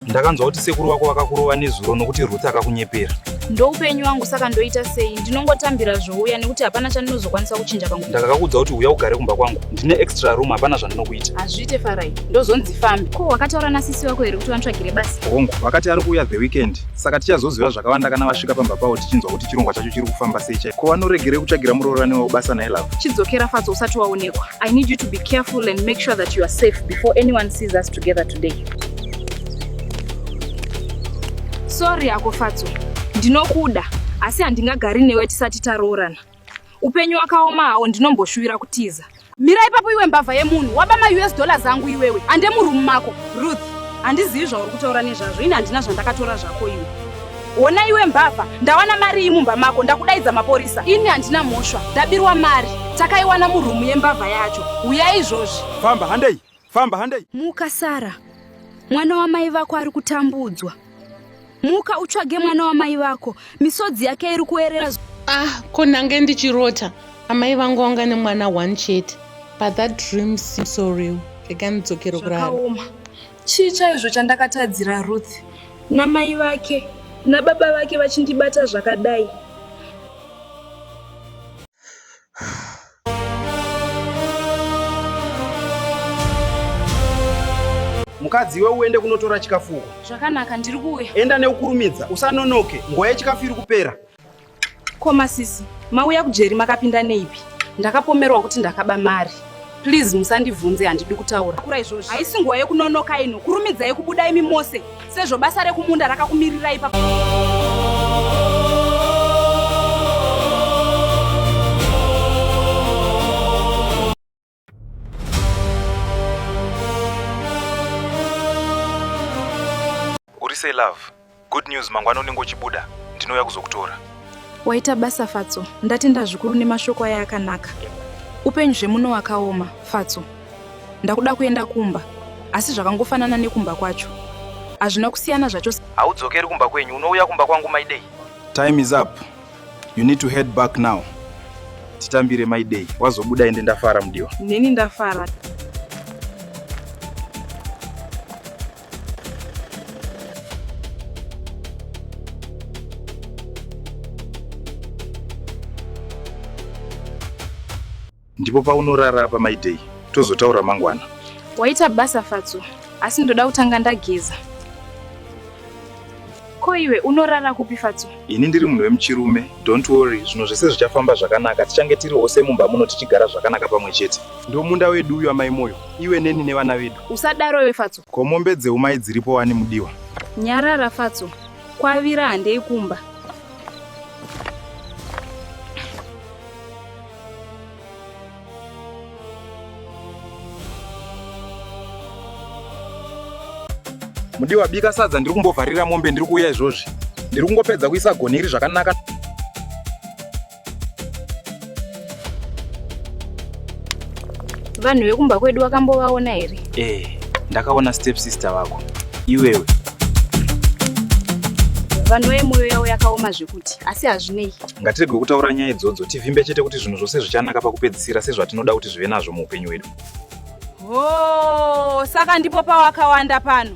ndakanzwa kuti sekuru vako vakakurova nezuro nokuti ruth akakunyepera ndoupenyu wangu saka ndoita sei ndinongotambira zvouya nekuti hapana chandinozokwanisa kuchinja pangu ndakakakuudza kuti uya ugare kumba kwangu ndine extra room hapana zvandinokuita hazviite farai ndozonzi fambi ko wakataura nasisi vako here kuti vantsvagire basa hongu vakati ari kuuya the weekend saka tichazoziva zvakawanda kana vasvika pamba pavo tichinzwa kuti chirongwa chacho chiri kufamba sei chai ko vanoregerei kutsvagira muroorani wavo basa naye lavo chidzokera fatso usati waonekwa i need you to be careful and make sure that you are safe before anyone sees us together today Sorry ako Fatso, ndinokuda asi handingagari newe tisati taroorana. Upenyu wakaoma hawo ndinomboshuwira kutiza. Mira ipapo iwe mbavha yemunhu, waba maUS dollars angu iwewe, ande muroom mako. Ruth, handizivi zvauri kutaura nezvazvo, ini handina zvandakatora zvako iwe. Hona iwe mbavha, ndawana mari iyi mumba mako, ndakudaidza mapurisa. Ini handina mhosva, ndabirwa mari, takaiwana muroom yembavha yacho. Huyai izvozvi. Famba, handei. Famba handei. Muka Sara. Mwana wamai vako ari kutambudzwa. Muka utsvage mwana wamai vako. Misodzi yake iri kuerera. Ah, ko ndange ndichirota. Amai vangu vanga nemwana one chete. But that dream seems so real. Rega ndidzokere kurara. Zvakaoma. Chii chaizvo chandakatadzira Ruth? Namai vake nababa vake vachindibata zvakadai. mukadzi iwe uende kunotora chikafu uko zvakanaka ndiri kuuya enda neukurumidza usanonoke nguva yechikafu iri kupera ko masisi mauya kujeri makapinda neipi ndakapomerwa kuti ndakaba mari Please musandivhunze handidi kutaura. Kura izvozvo. Haisi nguva yekunonoka ino. Kurumidzai kubuda imi mose. Sezvo basa rekumunda rakakumirirai pa Uri sei love? Good news, mangwana unenge uchibuda, ndinouya kuzokutora. Waita basa Fatso, ndatenda zvikuru nemashoko aya akanaka. Upenyu zvemuno wakaoma, Fatso. Ndakuda kuenda kumba, asi zvakangofanana nekumba kwacho. Hazvina kusiyana zvacho. Haudzokeri kumba kwenyu, unouya kumba kwangu Maidei. Time is up. You need to head back now. Titambire Maidei. Wazobuda ende ndafara mudiwa. Neni ndafara. ndipo paunorara apa maidei tozotaura mangwana waita basa fatso asi ndoda kutanga ndageza Ko iwe unorara kupi Fatso? Ini ndiri munhu wemuchirume. Don't worry, zvinhu zvese zvichafamba zvakanaka. Tichange tiri ose mumba muno tichigara zvakanaka pamwe chete. Ndomunda wedu uyu amai Moyo, iwe neni nevana vedu. Usadaro iwe Fatso. Ko mombe dzeumai dziripo wani mudiwa? Nyarara Fatso, kwavira handei kumba. mudiwa bika sadza ndiri kumbovharira mombe ndiri kuuya izvozvi ndiri kungopedza kuisa goni iri zvakanaka vanhu vekumba kwedu wakambovaona here ee eh, ndakaona step sister vako iwewe vanhu vemoyo yavo yakaoma zveku futi asi hazvinei ngatirege kutaura nyaya idzodzo tivimbe chete kuti zvinhu zvose zvichanaka pakupedzisira sezvatinoda kuti zvive nazvo muupenyu hwedu hoo saka ndipo pawakawanda pano